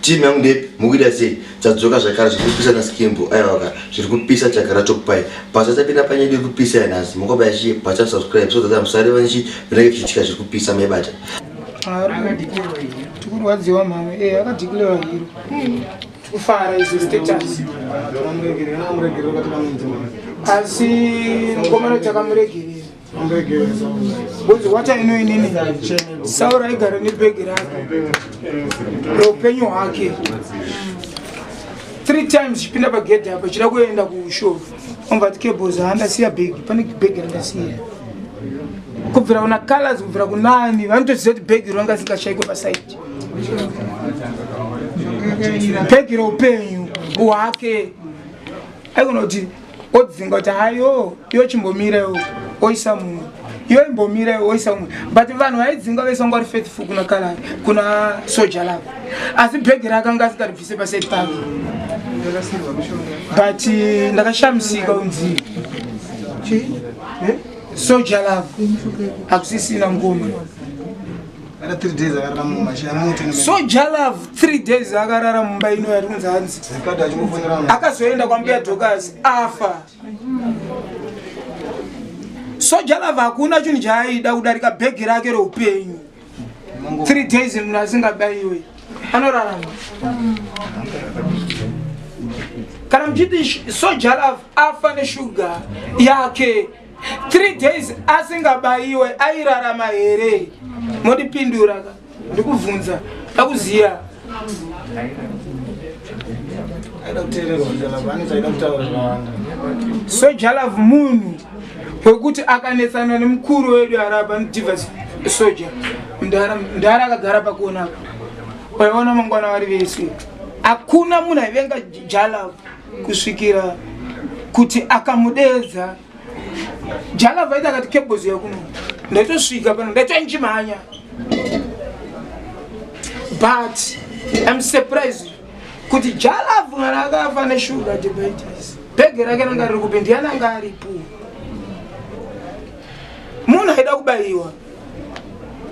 team yangu ndepi mukuita sei tadzoka zvakare zviri kupisa na skimbo aiwaka zviri kupisa chagara tokupai basa tapinda panyedu iri kupisa yanhasi mukobaya chiye basa subscribe so that musare vanchi vinenge vichiitika zviri kupisa maibata tikurwadziwa mama e eh, akadhikilewa hiro hmm. kufara izo status asi mukomana takamuregerera Bonzi wata ino inini saura igara nebhegi rake roupenyu hwake three times chipinda pagedhi apa chida kuenda kushow omvati cables handasiya bhegi pane bhegi randasiya kubvira kuna colors kubvira kunani vanotoziva kuti bhegi ranga sikashaikwe pasaidi bhegi roupenyu hwake aigona kuti odzinga kuti hayo iyo chimbomirewo oisa mumwe iyo imbomirewo oisa mumwe but vanhu vaidzinga vese vanga vari faithful kuna kala kuna soja lavo asi bhegi raakanga asikaribvise paside pavo but eh, ndakashamisika unzi soja lavo hakusisina ngoma Ara 3 days akarara mumba chaya moto ne. So Jalav 3 days akarara mumba ino yari kunzi hanzi. Zikada achikufonera mwana. Akazoenda kwa mbuya Dokas afa. So Jalav hakuna chinhu chaaida kudarika bhegi rake reupenyu. 3 days munhu asingabaiwe. Anorarama. Kana mchiti so Jalav afa ne sugar yake. Yeah, okay. 3 days asingabaiwe airarama here mondipindura ka ndikubvunza akuziya soja love munhu wekuti akanetsana nemukuru wedu araba nodivas soja mdara akagara pakuonaka waiona mangwana vari vese hakuna munhu aivenga jalove kusvikira kuti akamudeedza jala vaita akati kebhozi yakuno ndaitosvika pano ndaitonjimhanya but im surprised kuti jala mwana akafa neshuga diabetes bhege rake ranga riri kupi ndiyananga aripo munhu aida kubayiwa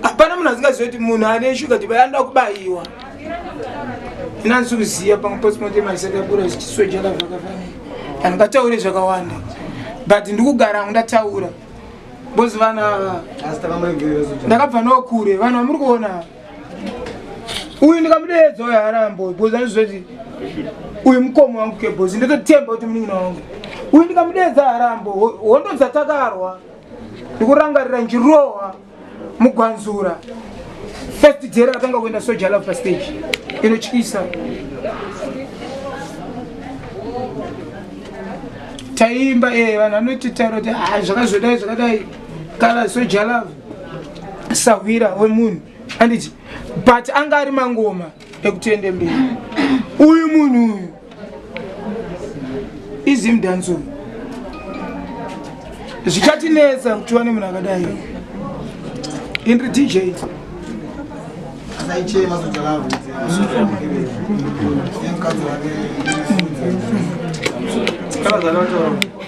hapana munhu asingaziva kuti munhu ane shuga diba anoda kubayiwa inanzi kuziva pamwe posimote maisakakura zichisweja lavakafanira vanhu ngataure zvakawanda but ndikugara hangu ndataura bozi vana ndakabva nokure vanhu vamuri kuona uyu ndikamudeedza uyo harambo bozi anozvoti uyu mukomo wangu kebozi ndototemba kuti munin'ina wangu uyu ndikamudeedza harambo hondo dzatakarwa ndikurangarira njirowa mugwanzura first day rakatanga kuenda soja love pastage inotyisa taiimba ee eh, vanhu vanoti taura kuti ha ah, zvakazodai zvakadai kala soja love sahwira wemunhu anditi but anga ari mangoma ekuti ende mberi uyu munhu uyu izim danzo zvichatinetsa kuti wane munhu akadai indri dj Thank you.